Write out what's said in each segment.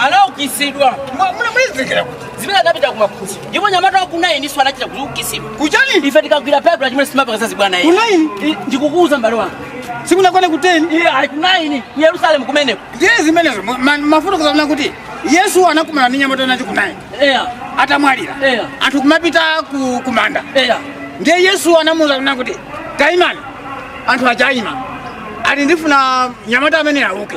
anaukitsidwa mwamulemezekera kuti zimene anapita ku Emausi ndipo mnyamata wakunayi ndi iyenso anachita kuukitsidwa kuchani ife tikagwira Baibulo chimene sitimapanga zachibwana iye kunayi ndikukuuza mbale wanga sikunakone kuteni iye ali kunayi ku yerusalemu kumeneko ndiye zimenezo ma- ma- mafuta mukudziwa kuti yesu anakumana ndi mnyamata nacho kunayi eya atamwalira Eya. anthu kumapita ku- kumanda eya ndiye yesu anamuuza kuna kuti taimani anthu ataima ati ndifuna mnyamata ameneyu auke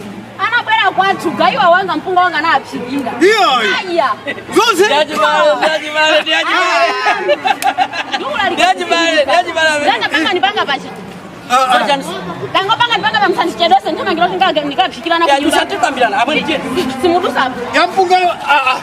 anabwera kwathu gaiwa wanga mpunga wanga anaphikira Iyayi. aya Zonse. ndangapanga ndipanga pachi Ah, ah. ndangopanga ndipanga musandichedwetse ndithamangire kuti ndikaphikire ana kunyumba Yampunga. Ah, ah.